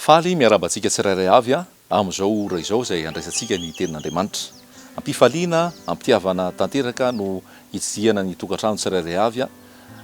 Faly miarahaba antsika tsirairay avy amin'izao ora izao izay handraisantsika ny Tenin'Andriamanitra. Am-pifaliana, am-pitiavana tanteraka no hitsidihana ny tokantrano tsirairay avy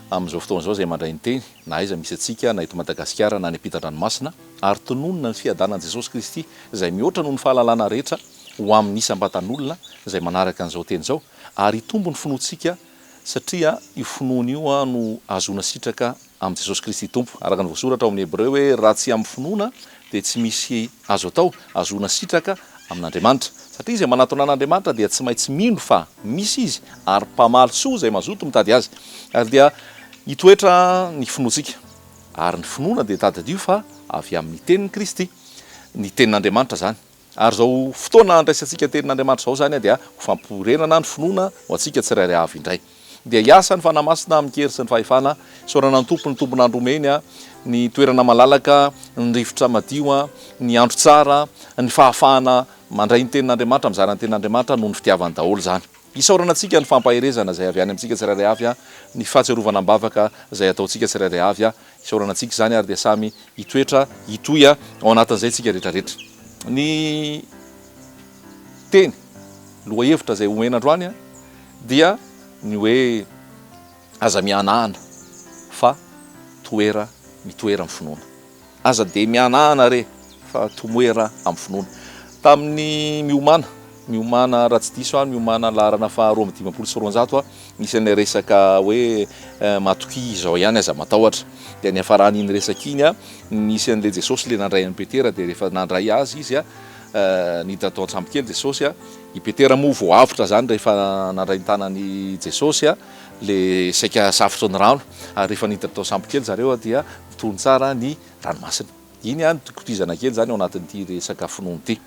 amin'izao fotoana izao izay mandray ny Teny, na aiza misy antsika, na eto Madagasikara na any am-pitan-dranomasina, ary tononina ny fiadanan'i Jesosy Kristy izay mihoatra noho ny fahalalana rehetra. ho amin'ny isam-batan'olona izay manaraka an'izao teny izao ary hitombo ny finoantsika satria io finoana io no ahazoana sitraka amin'i Jesosy Kristy Tompo. Araka ny voasoratra ao amin'ny Hebreo hoe raha tsy amin'ny finoana dia tsy misy azo atao hahazoana sitraka amin'Andriamanitra. Satria izay manatona an'Andriamanitra dia tsy maintsy mino fa misy Izy ary mpamaly soa izay mazoto mitady Azy ary dia hitoetra ny finoantsika. Ary ny finoana dia tadidio fa avy amin'ny tenin'i Kristy, ny tenin'Andriamanitra izany. Ary izao fotoana andraisantsika teny n'Andriamanitra izao izany dia ho fampirenana ny finoana ho antsika tsirairay avy indray. Dia hiasa ny Fanahy Masina amin-kery sy ny fahefana. Isaorana ny Tompo, ny Tompon'Andro omeny ny toerana malalaka, ny rivotra madio, ny andro tsara, ny fahafahana mandray ny tenin'Andriamanitra, mizara ny tenin'Andriamanitra noho ny fitiavany daholo izany. Isaorana antsika ny fampaherezana izay avy any amintsika tsirairay avy, ny fahatsiarovana am-bavaka izay ataontsika tsirairay avy. Isaorana antsika izany ary dia samy hitoetra hitohy ao anatin'izay isika rehetra rehetra. Ny teny lohahevitra izay omena androany dia ny hoe aza mihanahana fa toera mitoera amin'ny finoana. Aza dia mihanahana re fa tomoera amin'ny finoana. Tamin'ny miomàna. Miomàna, raha tsy diso aho, miomàna laharana faha roa amby dimampolo sy roanjato aho, misy an'ilay resaka hoe matokia izao ihany aza matahotra. Dia niafaran'iny resaka iny, nisy an'ilay Jesosy ilay nandray an'i Petera, dia rehefa nandray azy izy, niditra tao an-tsambo kely Jesosy, i Petera moa vao avotra izany rehefa nandray ny tanan'i Jesosy ilay saika safotry ny rano, ary rehefa niditra tao an-tsambo kely zareo dia nitony tsara ny ranomasina. Iny no dikotizana kely izany ao anatin'ity resaka finoana ity.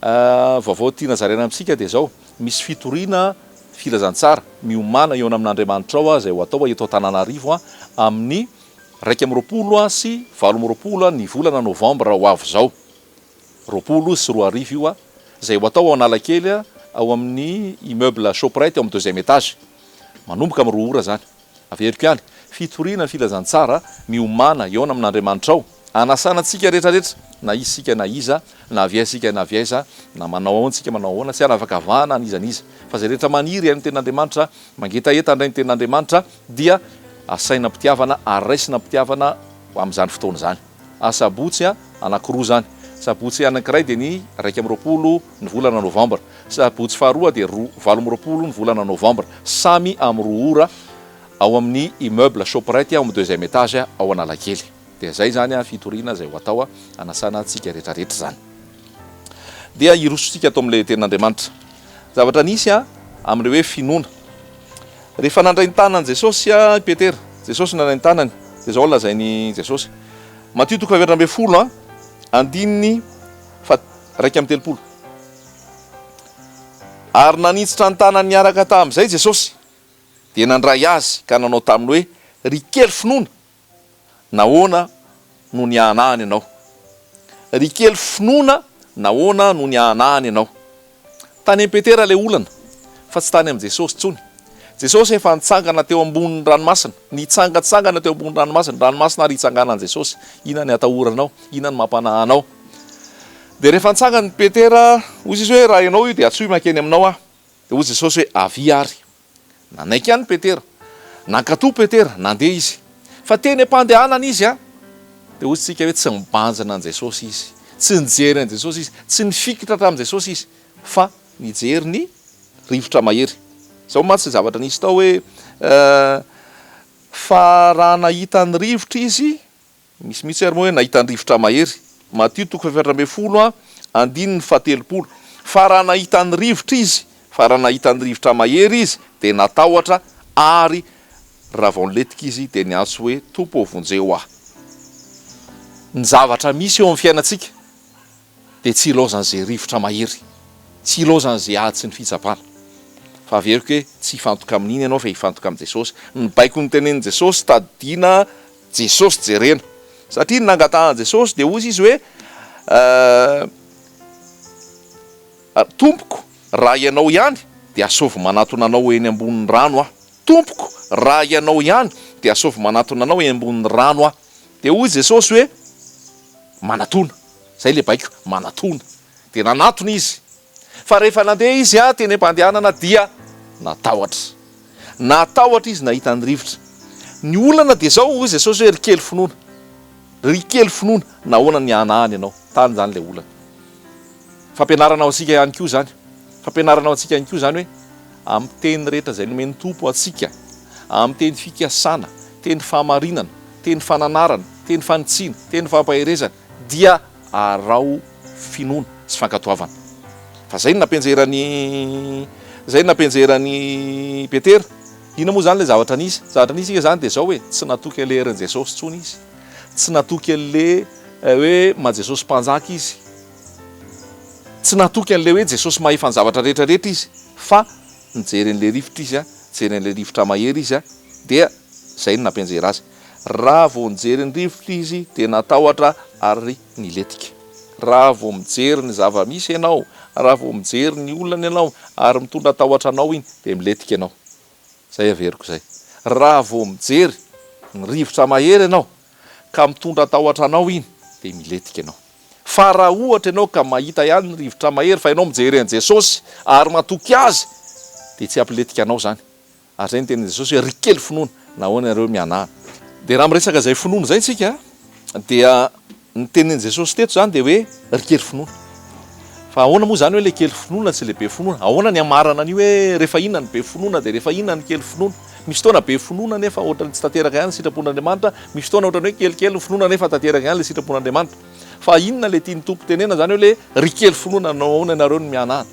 Vaovao tiana zaraina amintsika dia izao, misy fitoriana filazantsara miomàna eo amin'Andriamanitrao izay ho atao eto Antananarivo amin'ny iraika amby roapolo sy valo amby roapolo ny volana novambra ho avy izao, roapolo sy roa arivo io, izay ho atao ao Analakely ao amin'ny immeuble Shoprite ao amin'ny deuxième étage, manomboka amin'ny roa ora izany. Averiko ihany, fitoriana ny filazantsara miomàna hihaona amin'Andriamanitrao, hanasana antsika rehetra rehetra, na isika na iza, na avy aiza isika na avy aiza, na manao ahoana isika manao ahoana, tsy hanavakavahana an'iza an'iza, fa izay rehetra maniry haino ny tenin'Andriamanitra, mangetaheta handray ny tenin'Andriamanitra, dia asaina am-pitiavana ary raisina am-pitiavana amin'izany fotoana izany. Asabotsy anankiroa izany. Sabotsy anankiray dia ny iraika amby roapolo ny volana novambra. Sabotsy faharoa dia roa valo amby roapolo ny volana novambra. Samy amin'ny roa ora ao amin'ny immeuble Shoprite ao amin'ny deuxième étage ao Analakely. Dia izay izany fitoriana izay ho atao hanasana antsika rehetrarehetra izany. Dia hirosotsika ato amin'ilay tenin'Andriamanitra. Zavatra nisy amin'ilay hoe finoana. Rehefa nandray ny tanan'i Jesosy i Petera, Jesosy nandray ny tanany, dia izao no lazain'i Jesosy, Matio toko fahaefatra ambin'ny folo andininy faharaika amby telopolo, Ary nanintsitra ny tanany niaraka tamin'izay Jesosy, dia nandray azy ka nanao taminy hoe, Ry kely finoana, nahoana no niahanahany anao? Ry kely finoana, nahoana no niahanahany anao? Tany amin'i Petera ilay olana, fa tsy tany amin'i Jesosy intsony. Jesosy efa nitsangana teo ambonin'ny ranomasina. Nitsangantsangana teo ambonin'ny ranomasina. Ny ranomasina ary itsanganan'i Jesosy. Inona ny atahoranao? Inona ny mampanahy anao? Dia rehefa nitsangan'i Petera, hoy Jesosy hoe, Raha ianao io, dia antsoy makeny aminao aho. Dia hoy Jesosy hoe, Avia ary. Nanaiky ihany Petera. Nankatò Petera, nandeha izy. Fa teny am-pandehanana izy, dia hoy isika hoe tsy nibanjina an'i Jesosy izy. Tsy nijery an'i Jesosy izy. Tsy nifikitra tamin'i Jesosy izy, fa nijery ny rivotra mahery. Izao mantsy ny zavatra nisy tao hoe, Fa raha nahita ny rivotra izy, Misy mihitsy ary moa hoe nahita ny rivotra mahery. Matio toko fahefatra ambin'ny folo a, andininy fahatelopolo. Fa raha nahita ny rivotra izy, fa raha nahita ny rivotra mahery izy, dia natahotra, ary ravaon'letika izy dia niantso hoe, Tompo ô, vonjeo ahy. Ny zavatra misy eo amin'ny fiainantsika dia tsy ilaozan'izay rivotra mahery, tsy ilaozan'izay ady sy ny fitsapana. Fa averiko hoe, tsy hifantoka amin'iny ianao fa hifantoka amin'i Jesosy. Ny baiko notenenin'i Jesosy, tadidiana Jesosy jerena. Satria ny nangatahan'i Jesosy dia hozy izy hoe Ry Tompoko, raha Ianao ihany dia asaovy manatona Anao eny ambonin'ny rano aho. Tompoko, raha Ianao ihany dia asaovy manatona Anao eny ambonin'ny rano aho. Dia hoy Jesosy hoe, Manatona. Izay ilay baiko, manatona. Dia nanatona izy. Fa rehefa nandeha izy teny am-pandehanana dia natahotra. Natahotra izy nahita ny rivotra. Ny olana dia izao, hoy Jesosy hoe, Ry kely finoana, ry kely finoana, nahoana no nihanahana ianao? Tany izany ilay olana. Fampianarana ho antsika ihany koa izany. Fampianarana ho antsika ihany koa izany hoe amin'ny teny rehetra izay nomen'ny Tompo antsika, amin'ny teny fikasana, teny fahamarinana, teny fananarana, teny fanitsiana, teny fampaherezana, dia araho finoana sy fankatoavana. Fa zay no nampianjeran'i zay no nampianjeran'i Petera. Inona moa zany le zavatra nisy? Zavatra nisy ika zany de zao e, tsy natoky an'le herin'i Jesosy tsony izy, tsy natoky an'le hoe maha Jesosy mpanjaka izy, tsy natoky an'le hoe Jesosy mahefa ny zavatra rehetra rehetra izy, fa nijery an'le rivotra izy a, nijery an'le rivotra mahery izy a, dia zay no nampianjera azy. Raha vao nijery ny rivotra izy dia natahotra ary nilentika. Raha vao mijery ny zava-misy ianao, raha vao mijery ny olana ianao ary mitondra tahotra anao iny dia milentika ianao. Izay averiko izay. Raha vao mijery ny rivotra mahery ianao ka mitondra tahotra anao iny dia milentika ianao. Fa raha ohatra ianao ka mahita ihany ny rivotra mahery fa ianao mijery an'i Jesosy ary matoky Azy dia tsy hampilentika anao izany. Ary izay ny tenin'i Jesosy hoe, Ry kely finoana, nahoana ianareo mianahy? Dia raha miresaka izay finoana izay isika dia ny tenin'i Jesosy teto izany dia hoe, Ry kely finoana. Fa ahoana moa izany hoe ilay kely finoana sy ilay be finoana? Ahoana ny hamarana an'io hoe rehefa inona ny be finoana dia rehefa inona ny kely finoana? Misy fotoana be finoana nefa ohatran'ny tsy tanteraka ihany ny sitrapon'Andriamanitra, misy fotoana ohatran'ny hoe kelikely ny finoana nefa tanteraka ihany ilay sitrapon'Andriamanitra. Fa inona ilay tian'ny Tompo tenenana izany hoe ilay, Ry kely finoana, nahoana ianareo no mianahy?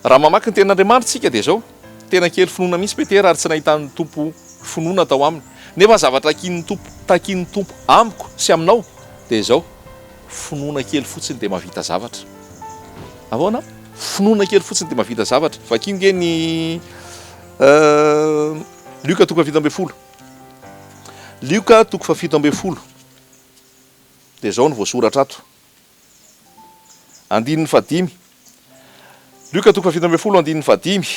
Raha mamaky ny Tenin'Andriamanitra isika dia izao, Tena kely finoana mihitsy Petera ary tsy nahitan'ny Tompo finoana tao aminy. Nefa ny zavatra hakian'ny Tompo, takian'ny Tompo amiko sy aminao dia izao, finoana kely fotsiny dia mahavita zavatra. Ahoana? Finoana kely fotsiny dia mahavita zavatra. Vakio nge ny Lioka toko fahafito ambin'ny folo. Lioka toko fahafito ambin'ny folo. Dia izao no voasoratra ato. andininy fahadimy. Lioka toko fahafito ambin'ny folo andininy fahadimy,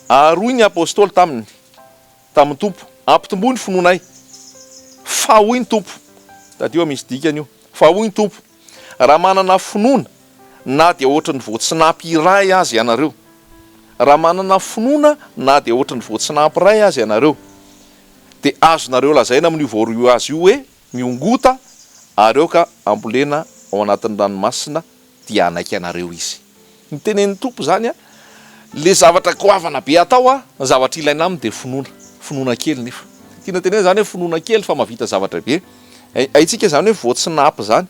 Ary hoy ny apostoly taminy, tamin'ny Tompo, Ampitomboy ny finoanay. Fa hoy ny Tompo, tadidio a misy dikany io, Fa hoy ny Tompo, Raha manana finoana na dia hoatry ny voatsinapy iray aza ianareo, raha manana finoana na dia hoatry ny voatsinapy iray aza ianareo, dia azonareo lazaina amin'io voaroy azy io hoe, Miongota ary aoka hambolena ao anatin'ny ranomasina dia hanaiky anareo Izy. Ny tenenin'ny Tompo izany an. Ilay zavatra goavana be hatao an, ny zavatra ilaina aminy dia finoana. Finoana kely nefa. Tiana tenenina izany hoe finoana kely fa mahavita zavatra be. Hay, haintsika izany hoe voatsinapy izany.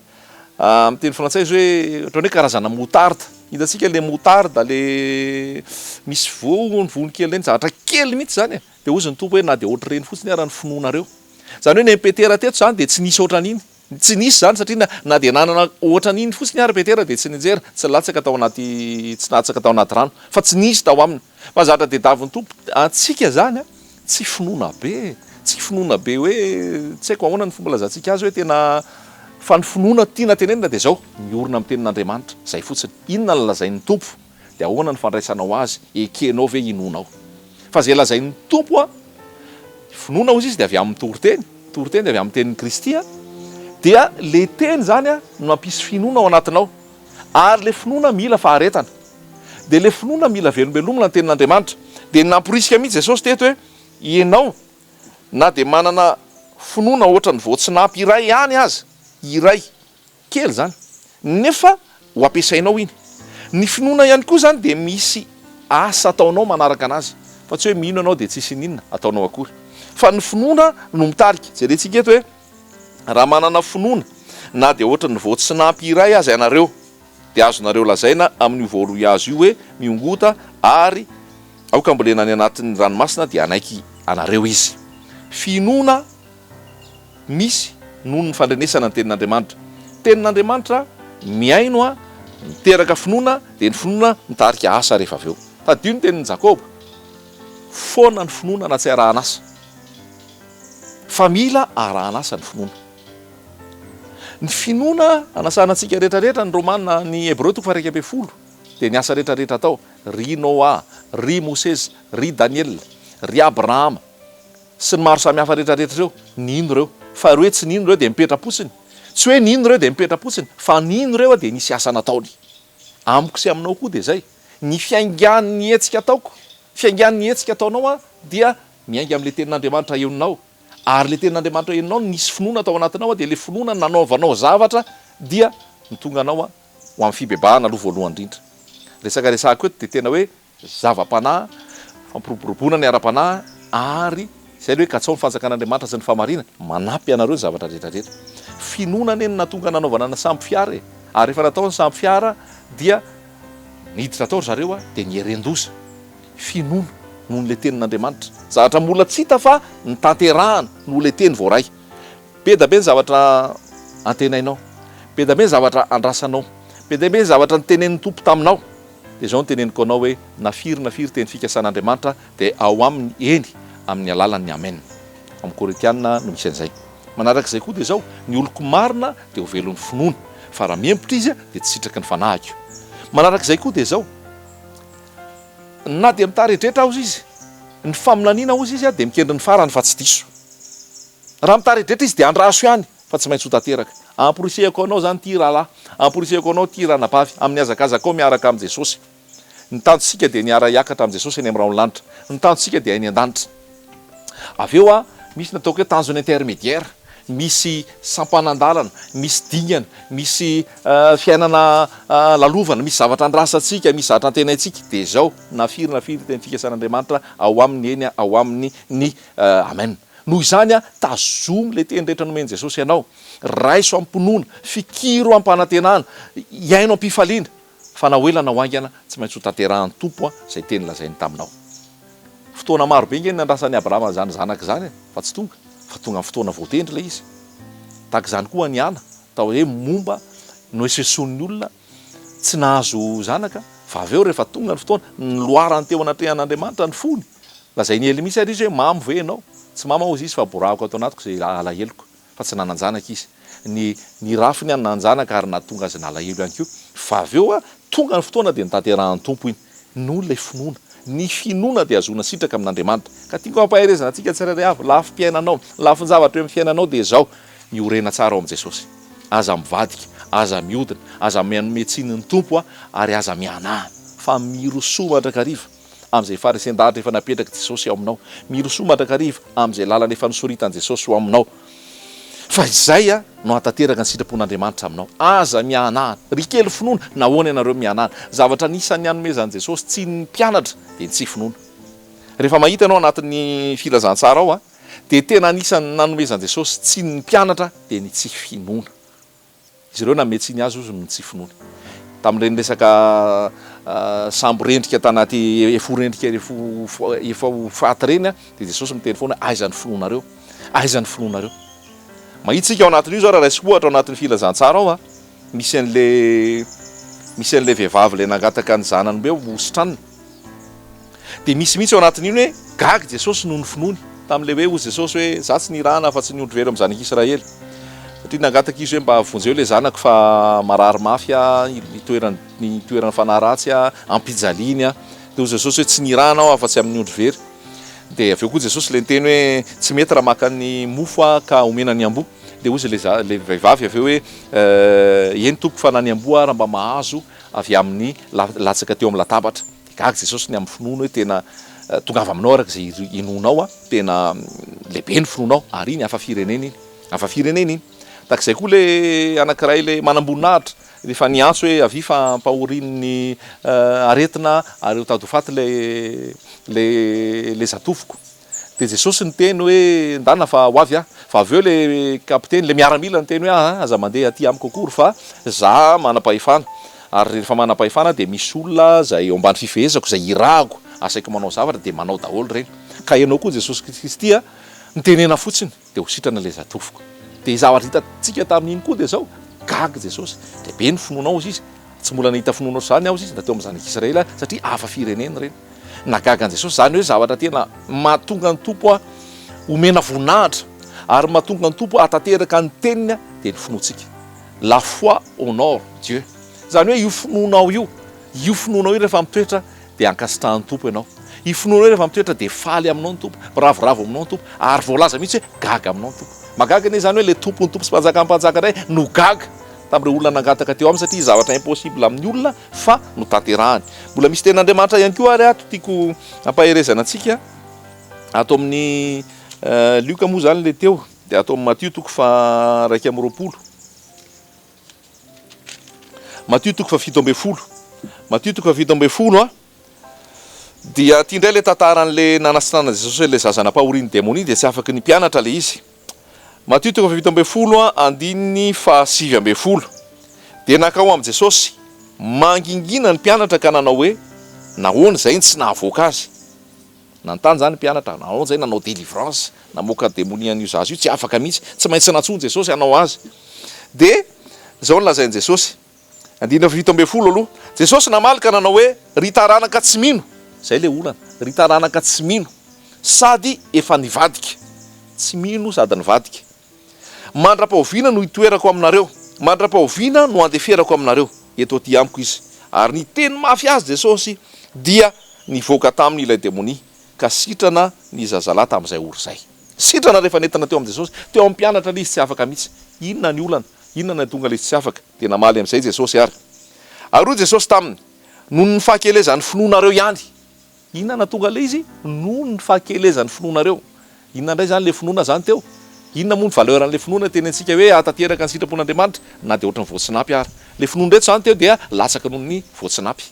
Amin'ny teny frantsay izy hoe ohatran'ny hoe karazana moutarde. Hitantsika ilay moutarde ilay misy voany, voany kely ireny, zavatra kely mihitsy izany e. Dia hozy ny Tompo hoe, na dia ohatr'ireny fotsiny ara ny finoanareo. Izany hoe nen'i Petera teto izany dia tsy nisy ohatran'iny. Tsy nisy izany satria na na dia nanana ohatran'iny fotsiny ara Petera dia tsy nianjera, tsy latsaka tao anaty, tsy latsaka tao anaty rano. Fa tsy nisy tao aminy. Fa zatra tediavin'ny Tompo antsika izany an. Tsy finoana be e. Tsy finoana be hoe, tsy haiko ahoana ny fomba ilazantsika azy hoe tena, fa ny finoana tiana tenenina dia izao, miorina amin'ny tenin'Andriamanitra. Izay fotsiny. Inona no lazain'ny Tompo. dia ahoana ny fandraisanao azy? Ekenao ve hinoanao? Fa izay lazain'ny Tompo an, finoana hozy izy dia avy amin'ny toriteny, toriteny dia avy amin'ny tenin'i Kristy an, dia le teny zany an no hampisy finoana ao anatinao, ary le finoana mila faharetana, dia le finoana mila velombelomina ny tenin'Andriamanitra, dia namporisika mihitsy Jesosy teto hoe ianao na dia manana finoana ohatran'ny voatsinapy iray ihany aza, iray, Kely izany nefa ho ampiasainao iny. Ny finoana ihany koa izany dia misy asa ataonao manaraka anazy fa tsy hoe mino ianao dia tsisy ininona ataonao akory fa ny finoana no mitarika. Jerentsika eto hoe raha manana finoana na dia ohatran'ny voatsinampy iray aza ianareo dia azonareo lazaina amin'io voaroy azy io hoe mihongota ary aoka ambolena any anatin'ny ranomasina dia hanaiky anareo izy. Finoana. misy noho ny fandrenesana ny Tenin'Andriamanitra. Tenin'Andriamanitra mihaino a, miteraka finoana, dia ny finoana mitarika asa rehefa avy eo. Tadidio ny tenin'i Jakoba, Foana ny finoana na tsy arahan'asa. Fa mila arahan'asa ny finoana. Ny finoana anasana antsika rehetrarehetra ny Romana, ny Hebreo toko faha-iraika ambin'ny folo, dia ny asa rehetrarehetra atao, ry Noa, ry Mosesy, ry Daniela, ry Abrahama, sy ny maro samihafa rehetra rehetra ireo, ny hino ireo, fa ireo hoe tsy ny hino ireo dia mipetra-potsiny, tsy hoe ny hino ireo dia mipetra-potsiny, fa ny hino ireo dia nisy asa nataony. Amiko sy aminao koa dia izay, ny fiaingan'ny hetsika ataoko, fiaingan'ny hetsika ataonao an, dia miainga amin'ilay Tenin'Andriamanitra henonao, ary ilay Tenin'Andriamanitra henonao no nisy finoana tao anatinao an, dia ilay finoana no nanaovanao zavatra dia no tonga anao an, ho amin'ny fibebahana aloha voalohany indrindra. Resaka resahiko eto dia tena hoe zava-panahy, fampiroboroboana ny ara-panahy, ary izay ilay hoe katsaho ny fanjakan'Andriamanitra sy ny fahamarinany, manampy anareo ny zavatra rehetra rehetra. Finoana anie no nahatonga nanaovana ny sambo fiara e! ary rehefa natao ny sambo fiara dia niditra tao ry zareo a! dia nieren-doza. Finoana noho ilay tenin'Andriamanitra. Zavatra mbola tsy hita fa notanterahana noho ilay teny voaray. Be da be ny zavatra antenainao, be da be ny zavatra andrasanao, be da be ny zavatra notenenin'ny Tompo taminao. Dia izao no teneniko anao hoe na firy na firy teny fikasan' Andriamanitra dia ao aminy eny amin' ny alalan' ny Amen. Ao amin' ny Korintiana no misy an' izay. Manaraka izay koa dia izao, ny oloko marina dia ho velon' ny finoany, fa raha mihempotra izy dia tsy sitraky ny fanahiko. Manaraka izay koa dia izao, na dia mitaredretra aoz izy, ny faminaniana oz izy dia mikendry ny farany fa tsy diso. Raha mitaredretra izy dia andraso ihany. fa tsy maintsy ho tanteraka. Amporisihako anao izany ity rahalahy, amporisihako anao ity ranabavy, amin'ny hazakazakao miaraka amin'i Jesosy. Ny tanjontsika dia ny hiara-hiakatra amin'i Jesosy eny amin'ny rahon'ny lanitra. Ny tanjontsika dia any an-danitra. Avy eo, misy ny ataoko hoe tanjon'ny intermédiaire, misy sampanan-dalana, misy dingana, misy fiainana lalovana, misy zavatra andrasantsika, misy zavatra antenaintsika, dia izao, na firy na firy dia ny fikasan'Andriamanitra ao aminy, eny, ao aminy ny Amen. Noho izany, tazomy ilay teny rehetra nomen'i Jesosy anao, raiso amim-pinoana, fikiro amim-panantenana, hiaino am-pifaliana, fa na ho ela na ho haingana, tsy maintsy hotanterahan'ny Tompo izay teny lazainy taminao. Fotoana maro be ange no niandrasan'i Abrahama an'izany zanaka izany, fa tsy tonga, fa tonga amin'ny fotoana voatendry ilay izy. Tahaka izany koa ny Ana, atao hoe momba, nohesohesoin'ny olona, Tsy nahazo zanaka, fa avy eo rehefa tonga ny fotoana, noloarany teo anatrehan'Andriamanitra ny fony. Lazain'i Elimicy ary izy hoe, Mamo ve ianao? Tsy mamo aho, hoy izy, fa borahako ato anatiko izay alaheloko, fa tsy nanan-janaka izy. Ny ny rafiny ihany nanan-janaka ary nahatonga azy nalahelo ihany koa. Fa avy eo, tonga ny fotoana dia notanterahin'ny Tompo iny. Noho ilay finoana. Ny finoana dia ahazoana sitraka amin'Andriamanitra. Ka tiako hampaherezana antsika tsirairay avy, lafim-piainanao, ny lafin-javatra eo amin'ny fiainanao dia izao, Iorena tsara ao amin'i Jesosy. Aza mivadika, aza mihodina, aza mianome tsiny ny Tompo ary aza mianaha. Fa mirosoa mandrakariva amin'izay faharesen-dahatra efa napetrak'i Jesosy ao aminao. Mirosoa mandrakariva amin'izay lalana efa nosoritan'i Jesosy ho aminao. Fa izay no hahatanteraka ny sitrapon'Andriamanitra aminao. Aza mihanahana. Ry kely finoana, nahoana ianareo mihanahana? Zavatra anisan'ny hanomezan'i Jesosy tsiny ny mpianatra dia ny tsy finoana. Rehefa mahita ianao anatin'ny Filazantsara ao dia tena anisan'ny nanomezan'i Jesosy tsiny ny mpianatra dia ny tsy finoana. Izy ireo nanome tsiny azy hozy ny tsy finoany. Tamin'ireny resaka sambo rendrika tanaty fo rendrika efa ho faty ireny dia Jesosy miteny foana aiza ny finoanareo? Aiza ny finoanareo? Mahita isika ao anatin'io izao raha raisiko ohatra ao anatin'ny filazantsara ao misy an'ilay misy an'ilay vehivavy ilay nangataka ny zanany hoe hositranina. Dia misy mihitsy ao anatin'iny hoe gaga Jesosy noho ny finoany tamin'ilay hoe, hoy Jesosy hoe, Izaho tsy nirahana afa-tsy ny ondry very amin'ny zanak'i Israely. Satria nangataka izy hoe, mba vonjeo ilay zanako fa marary mafy aho, itoeran'ny itoeran'ny fanahy ratsy aho, ampijaliany aho. Dia hoy Jesosy hoe, tsy nirahana aho afa-tsy amin'ny ondry very. Dia avy eo koa Jesosy ilay niteny hoe, tsy mety raha maka ny mofo aho ka omena ny amboa. Dia hoy ilay za, ilay vehivavy avy eo hoe, eny Tompoko fa na ny amboa ara mba mahazo avy amin'ny latsaka teo amin'ny latabatra, dia gaga Jesosy ny amin'ny finoany hoe tena tongava aminao araka izay inoanao an, tena lehibe ny finoanao, ary iny hafa firenena iny, hafa firenena iny, tahaka izay koa ilay anankiray ilay manamboninahitra rehefa niantso hoe avia fa ampahorian'ny aretina ary mitady ho faty ilay ilay ilay zatofiko, Dia Jesosy niteny hoe, Ndana fa ho avy aho. Fa avy eo ilay kapiteny, ilay miaramila niteny hoe, Aa, aza mandeha aty amiko akory fa za manam-pahefana. Ary rehefa manam-pahefana dia misy olona izay eo ambany fifehezako, izay irahako, asaiko manao zavatra dia manao daholo ireny. Ka ianao koa Jesosy Kristy a, mitenena fotsiny. Dia ho sitrana ilay zatovoka. Dia ny zavatra hitantsika tamin'iny koa dia izao, gaga Jesosy, dia be ny finoanao hozy Izy, tsy mbola nahita finoana ohatr'izany aho hozy Izy na teo amin'ny zanak'i Israela satria hafa firenena ireny. Nahagaga an'i Jesosy izany hoe zavatra tena mahatonga ny Tompo homena voninahitra ary mahatonga ny Tompo hahatanteraka ny teniny dia ny finoantsika. La foi honore Dieu. Izany hoe io finoanao io, io finoanao io rehefa mitoetra dia ankasitrahan'ny Tompo ianao. I finoanao rehefa mitoetra dia faly aminao ny Tompo, miravoravo aminao ny Tompo, ary voalaza mihitsy hoe gaga aminao ny Tompo. Mahagaga anie izany hoe ilay Tompon'ny Tompo sy Mpanjakan'ny Mpanjaka indray no gaga tamin'ireo olona nangataka teo aminy satria zavatra impossible amin'ny olona fa notanterahany. Mbola misy tenin'Andriamanitra ihany koa ary ato tiako hampaherezana antsika, ato amin'ny Lioka moa izany ilay teo, dia ato amin'ny Matio toko faha iraika amby roapolo. Matio toko fahafito ambin'ny folo Matio toko fahafito ambin'ny folo a dia aty indray ilay tantaran'ilay nanatsinanan'i Jesosy an'ilay zaza nampahorian'ny demonia dia tsy afaky ny mpianatra ilay izy. Matio toko fahafito ambin'ny folo a andininy fahasivy ambin'ny folo dia nankao amin'i Jesosy mangingina ny mpianatra ka nanao hoe nahoana izay no tsy nahavoaka azy. Nanontany izany ny mpianatra, Nanao izay nanao délivrance, namoaka demonia an'io zaza io, tsy afaka mihitsy, tsy maintsy nantsoin'i Jesosy hanao azy. Dia izao no lazain'i Jesosy, andininy fahafito ambin'ny folo aloha, Jesosy namaly ka nanao hoe, Ry taranaka tsy mino, izay ilay olana, ry taranaka tsy mino sady efa nivadika, tsy mino sady nivadika, Mandra-pahoviana no hitoerako aminareo? Mandra-pahoviana no handeferako aminareo? Eto aty amiko izy. Ary niteny mafy azy Jesosy, dia nivoaka taminy ilay demonia, ka sitrana ny zazalahy tamin'izay ora izay. Sitrana rehefa nentina teo amin'i Jesosy. Teo amin'ny mpianatra ilay izy tsy afaka mihitsy. Inona ny olana? Inona no nahatonga ilay izy tsy afaka? Dia namaly amin'izay Jesosy ary. Ary hoy Jesosy taminy, Noho ny fahakelezan'ny finoanareo ihany Inona nahatonga ilay izy? Noho ny fahakelezan'ny finoanareo. Inona indray izany ilay finoana izany teo? Inona moa ny valeur an'ilay finoana teny antsika hoe hahatanteraka ny sitrapon'Andriamanitra na dia ohatran'ny voatsinapy ara? Ilay finoana ireto izany teo dia latsaka noho ny voatsinapy.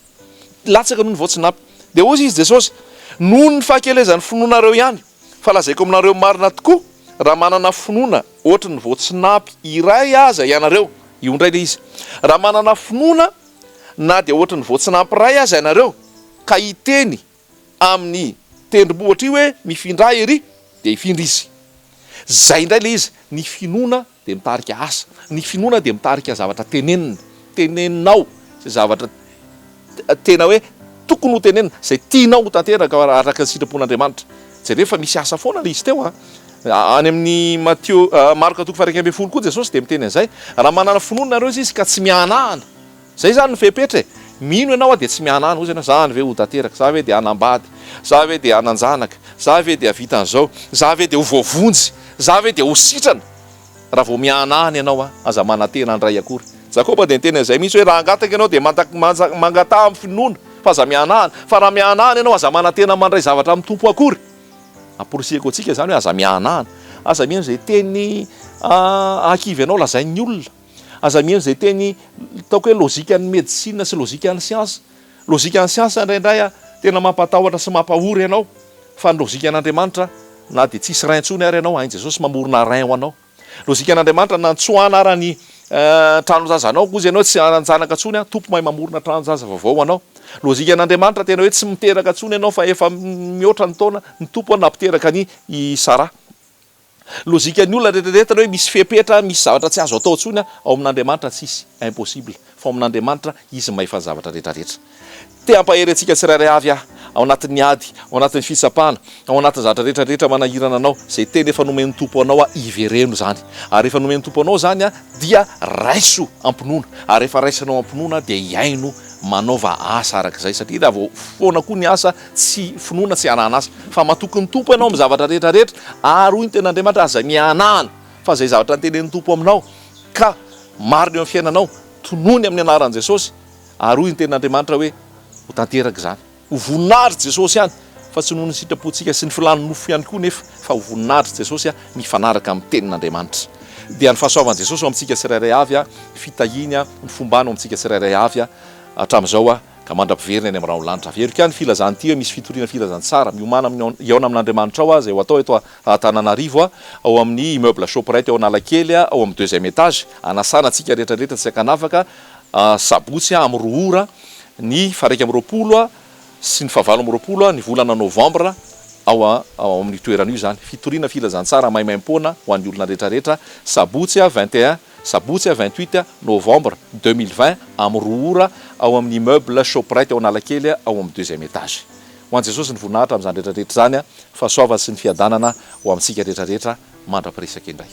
Latsaka noho ny voatsinapy. Dia hoy izy, Jesosy, Noho ny fahakelezan'ny finoanareo ihany. Fa lazaiko aminareo marina tokoa, raha manana finoana ohatran'ny voatsinapy iray aza ianareo, io indray ilay izy, raha manana finoana na dia ohatry ny vao tsy nampiray aza ianareo ka hiteny amin'ny tendrombohitra io hoe mifindra ery dia hifindra izy. Izay indray ilay izy, ny finoana dia mitarika asa, ny finoana dia mitarika zavatra tenenina, teneninao izay zavatra tena hoe tokony ho tenenina, izay tianao ho tanteraka araka ny sitrapon'Andriamanitra. Jereo fa misy asa foana ilay izy teo a! Any amin'ny Matio, Marka toko faha-iraika ambin'ny folo koa Jesosy dia miteny an'izay, Raha manana finoana ianareo, hoy Izy, ka tsy mihanahana. Izay izany no fepetra e! Mino ianao aho dia tsy mihanahana, hoy izy ianao, 'Za any ve ho tanteraka? Za ve dia hanambady? Za ve dia hanan-janaka? Za ve dia havita an'izao? Za ve dia ho voavonjy? Za ve dia ho sitrana? Raha vao mihanahana ianao an, aza manantena handray akory. Jakoba dia niteny an'izay mihitsy hoe, Raha hangataka ianao dia mangataha amin'ny finoana, fa aza mihanahana. Fa raha mihanahana ianao, aza manantena mandray zavatra amin'ny Tompo akory. Amporisihiko antsika izany hoe aza mihanahana, aza mihaino izay teny ankivy anao lazain'ny olona, aza mihaino izay teny ataoko hoe lojikan'ny medisina sy lojikan'ny siansa. Lojikan'ny siansa indraindray tena mampatahotra sy mampahory anao fa ny lojikan'Andriamanitra na dia tsisy rein intsony ary ianao, ain'i Jesosy mamorona rein ho anao. Lojikan'Andriamanitra nantsoa anarany tranonjaza anao koa izy ianao tsy hananjanaka intsony an, Tompo mahay mamorona tranonjaza vaovao ho anao. Lojikan'Andriamanitra tena hoe tsy miteraka intsony ianao fa efa mihoatra ny taona, ny Tompo an nampiteraka an' i Sara. Lojikan'ny olona retraretra hoe misy fepetra, misy zavatra tsy azo atao intsony an, ao amin'Andriamanitra tsisy impossible, fa ao amin'Andriamanitra izy mahefa ny zavatra retraretra. Te hampahery antsika tsirairay avy aho, ao anatin'ny ady, ao anatin'ny fitsapana, ao anatin'ny zavatra rehetra rehetra manahirana anao, izay teny efa nomen'ny Tompo anao aho, ivereno izany. Ary rehefa nomen'ny Tompo anao izany aho, dia raiso am-pinoana. Ary rehefa raisinao am-pinoana aho, dia hihaino manaova asa araka izay. Satria raha vao foana koa ny asa, tsy finoana, tsy hanahan'asa. Fa matoky ny Tompo ianao amin'ny zavatra rehetra rehetra, ary hoy ny Tenin'Andriamanitra, aza mihanahana, fa izay zavatra notenenin'ny Tompo aminao, ka marina eo amin'ny fiainanao, tonony amin'ny anaran'i Jesosy, Ary hoy ny tenin'Andriamanitra hoe, Ho tanteraka izany. Ho voninahitry Jesosy ihany, fa tsy noho ny sitrapontsika sy ny filàn'ny nofo ihany koa nefa, fa ho voninahitry Jesosy mifanaraka amin'ny tenin'Andriamanitra. Dia ny fahasoavan'i Jesosy ho amintsika tsirairay avy, ny fitahiany, ny fombany ho amintsika tsirairay avy, hatramin'izao ka mandra-piveriny any amin'ny ra an-lanitra. Averiko ihany ny filazana ity hoe misy fitoriana filazantsara miomàna amin'ny hihaona amin'Andriamanitra ao izay ho atao eto Antananarivo, ao amin'ny immeuble Shoprite ao Analakely, ao amin'ny deuxième étage, hanasana antsika rehetra rehetra tsy an-kanavaka, Sabotsy amin'ny roa ora, ny faharaika amby roapolo sy ny fahavalo amby roapolo ny volana novambra, ao amin'io toerana io izany. Fitoriana filazantsara maimaimpoana ho an'ny olona rehetrarehetra, sabotsy vingt et un, sabotsy vingt huit novambra deux mille vingt amin'ny roa ora, ao amin'ny immeuble Shoprite ao Analakely, ao amin'ny deuxième étage. Ho an'i Jesosy ny voninahitra amin'izany rehetrarehetra izany. Fahasoavana sy ny fiadanana ho amintsika rehetrarehetra. mandra-piresaka indray.